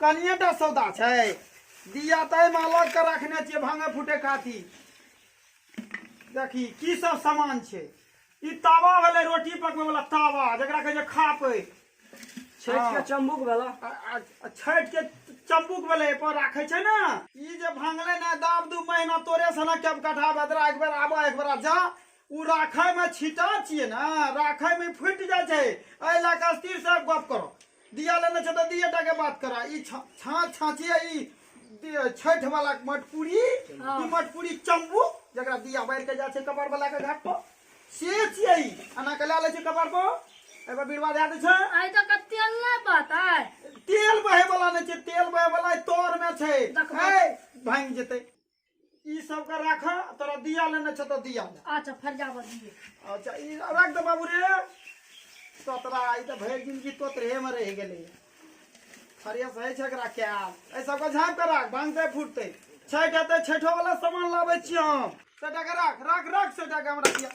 कनिएटा सौदा छै दिया तय मालक के रखने छियै भांगे फूटे खातिर देखी की सब सामान छै ई तावा भेलै रोटी पकबै वाला तावा जकरा कहै छै खापै छठि के चम्बुक भेला आ- आ- आ छठि के चम्बुक भेलै पर राखै छै ने ई जे भांगलै ने दाब दू महीना तोरे से ने केब कठा बेदरा एक बेर आबऽ एक बेर जा ओ राखैमे छिटा छियै ने राखैमे फुटि जाइ छै एहि लए कऽ स्थिर से गप करो दिया लेने छे तो दिए टा के बात करा ई छाछ छाछिए ई छठ वाला मटपुरी हाँ। ई मटपुरी चंबू जकरा दिया बार के जा छे कपार वाला के घाट पर से छिए ई अना के ला ले छे कपार पर एबा बीरवा दे दे छे आई तो के तेल नहीं पता है तेल बहे वाला नहीं छे तेल बहे वाला तोर में छे ए भांग जते ई सब के राख तोरा दिया लेने छ त दिया ले अच्छा फरियाबऽ दिए अच्छा ई रख दे बाबू रे तोतरा ई त भरि जिनगी तोतरे में रह गेले फरिया सही छै एकरा क्या ए सब के झाँप के राख भांगते फूटते छठ हेतै छठो वाला सामान लाबै छी हम सेटा के राख राख राख सेटा के हमरा दिया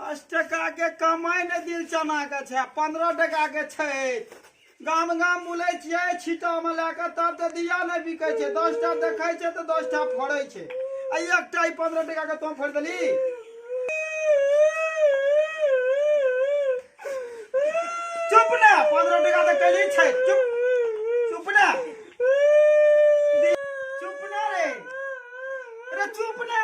दस टका के कमाई ने दिल चना के छै पंद्रह टका के छै गाम गाम बुले छियै छीटा में लए कऽ तब तऽ दिया नहि बिकै छै दस टा देखै छै तऽ दस टा फोड़ै छै आ एकटा ई पंद्रह टका के तों फोड़ि देली चुप ने पंद्रह टका तऽ कैली छै चुप चुप ने चुप ने रे अरे चुप ने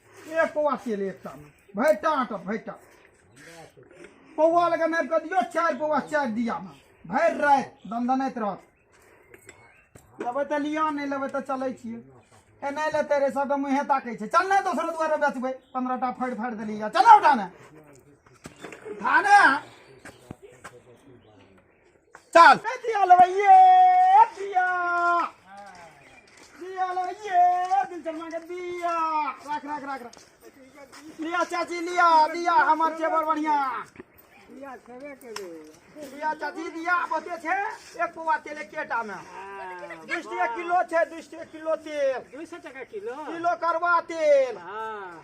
ए पौआ तेल एकटा में भरि टाट भरि टाट पौआ लगा नापि कऽ दियौ चारि पौआ चारि दिया में भरि राति दनदनैत रहत लेबै तऽ लिअ नहि लेबै तऽ चलै छियै एने लेते रे सब मुँहे ताकै छै चल ने दोसरो दुआरे बेचबै पंद्रह टा फाड़ि फाड़ि देली चल उठा ने धाने चल दिया लवैये दिया दिया लवैये दिल चरमा के दिया रख रख रख रख लिया चाची लिया दिया हमर छे बड़ बढ़िया दिया छेबे करे दिया चाची दिया बते छे एक पौवा तेल एक केटा में दू सौ किलो छे दू सौ किलो तेल दू सौ टका किलो किलो करवा तेल हाँ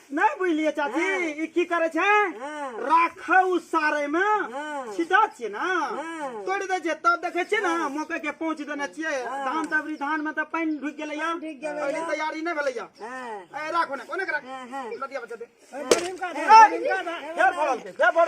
नहीं बुझलिए चाची हाँ। ई की करे छे हाँ। राखे उ सारे में हाँ। छिटा छे ना हाँ। तोड़ दे छे तब देखे छे ना मौके के पहुंच देने छिए धान तबरी धान में त पानी ढुक गेले या ढुक गेलै या। पहिले तैयारी नहीं भेले या हाँ। ए राखो ने कोने के राख हाँ, हाँ। लटिया बचा दे ए, गरीब का दे, गरीब का दे। फेर भरल के फेर भर